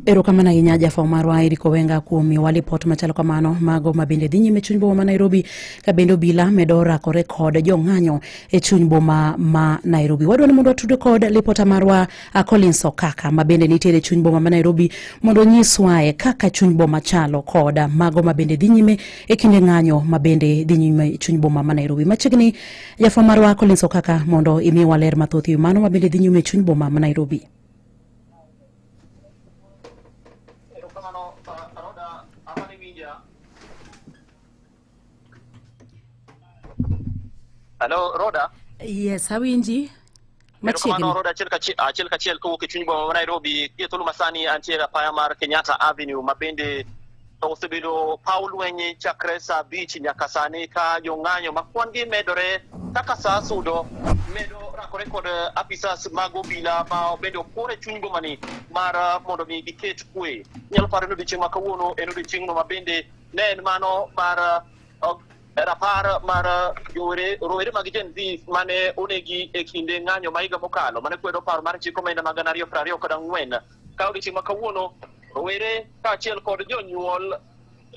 Erokamano ahinya jafwambo marwa Eric Owenga kuom miyowa lipot machalo kamano mago ma bende dhi nyime e chuny boma ma Nairobi ka bende obila medo rakore kod jong'anyo e chuny boma ma Nairobi. Wadwa ni mondo watude kod lipota marwa uh, Collins Okaka ma bende nitiere e chuny boma ma Nairobi mondo onyiswae kaka chuny boma chalo kod mago ma bende dhi nyime e kinde ng'anyo ma bende dhi nyime e chuny boma ma Nairobi. Machiegni Jafwa marwa Collins Okaka mondo imi waler mathoth ewi mano mabende dhi nyume chuny boma ma Nairobi. Hello, Rhoda. Yes, awinji. machiegni. Kamano road achiel kachiel achiel kachiel kowuok e chuny boma ma Nairobi gie thuolo masani antie e apaya mar Kenyatta Avenue ma bende osebedo paw lweny chakre saa abich nyaka sani ka jong'anyo ma kwan-gi medore kaka saa sudo medo rakore kod apisas mag obila ma bende opore chuny bomani mar ah, mondo mi giket kwe. Nyalo paro ni odiechieng' ma kawuono en odiechieng'no ma bende ne en mano mar ah, Rapar mar jowere rowere mag Gen Z mane onegi e kinde ng'anyo ma higa mokalo mane kwedo paro mar chik omenda ma gana ariyo piero ariyo kod ang'wen ka odiechieng' ma kawuono rowere kaachiel kod jonyuol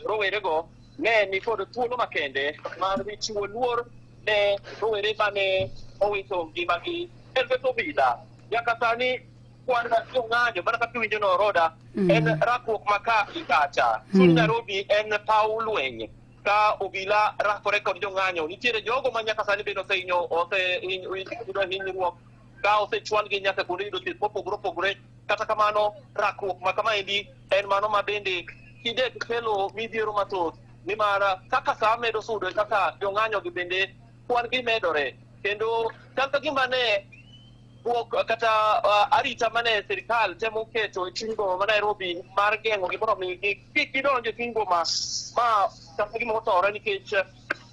rowerego ne ni kod thuolo makende mar chiwo luor ne rowere mane owito ngimagi e lwet obila nyaka sani kwan jong'anyo mana kaka iwinjo no roda en rakruok ma ka gi kacha chuny Nairobi en paw lweny ka obila rakore kod jong'anyo nitiere jogo ma nyaka sani bende osehinyo oseyudo hinyruok ka osechwalgi nyaka kuonde yudo thieth mopogore opogore kata kamano rakruok ma kamaendi en mano ma bende kinde kelo midhiero mathoth nimar kaka saa medo sudo kaka jong'anyogi bende kwan gi medore kendo chal ka gima ne bwok kata uh, arita mane sirikal temo keto e chuny boma ma Nairobi mar geng'o gi mondo mi gi- kik gidonj e chuny boma ma kata gima otore nikech eh,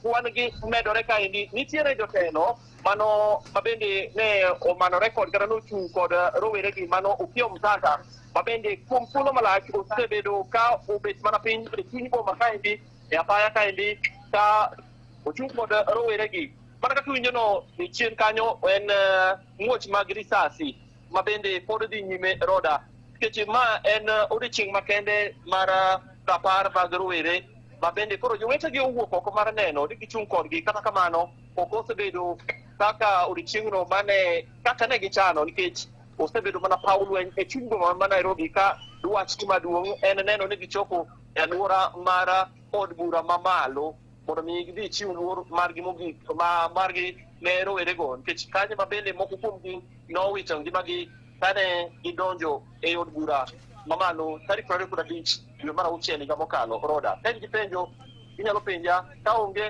kwan gi medore kaendi nitiere jotelo mano ma bende ne omanore kod kata nochung' kod eh, rowere gi mano Opiyo Mtata ma bende kuom thuolo malach osebedo ka obet mana piny e chuny boma kaendi e apaya kaendi ka ochung' kod rowere gi Mana kaka iwinjono e chien kanyo en eh, muoch mag risasi ma bende pod dhi nyime roda nikech ma en eh, odiechieng' makende mar eh, rapar mag rowere ma bende koro jowetegi owuok oko mar neno ni gichung' kodgi kata kamano ok osebedo kaka odiechieng'no mane kaka ne gichano nikech osebedo mana paw lweny e chuny boma ma Nairobi ka dwachgi maduong' en neno ni gichopo e alwora mar od bura mamalo mondo mi gidhi ichiw luor margi mogik ma margi ne rowerego nikech kanyo ma bende moko kuomgi nowito ngimagi kane gidonjo e od bura mamalo tarik prariyo kod abich dwe mar auchiel higa mokalo roda ka in gi penjo inyalo penja ka onge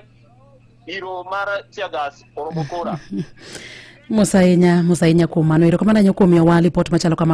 iro mar tiagas oromo kora mosainya mosainya kuom mano erokamano ahinya kuom miyowa lipot machalo kamano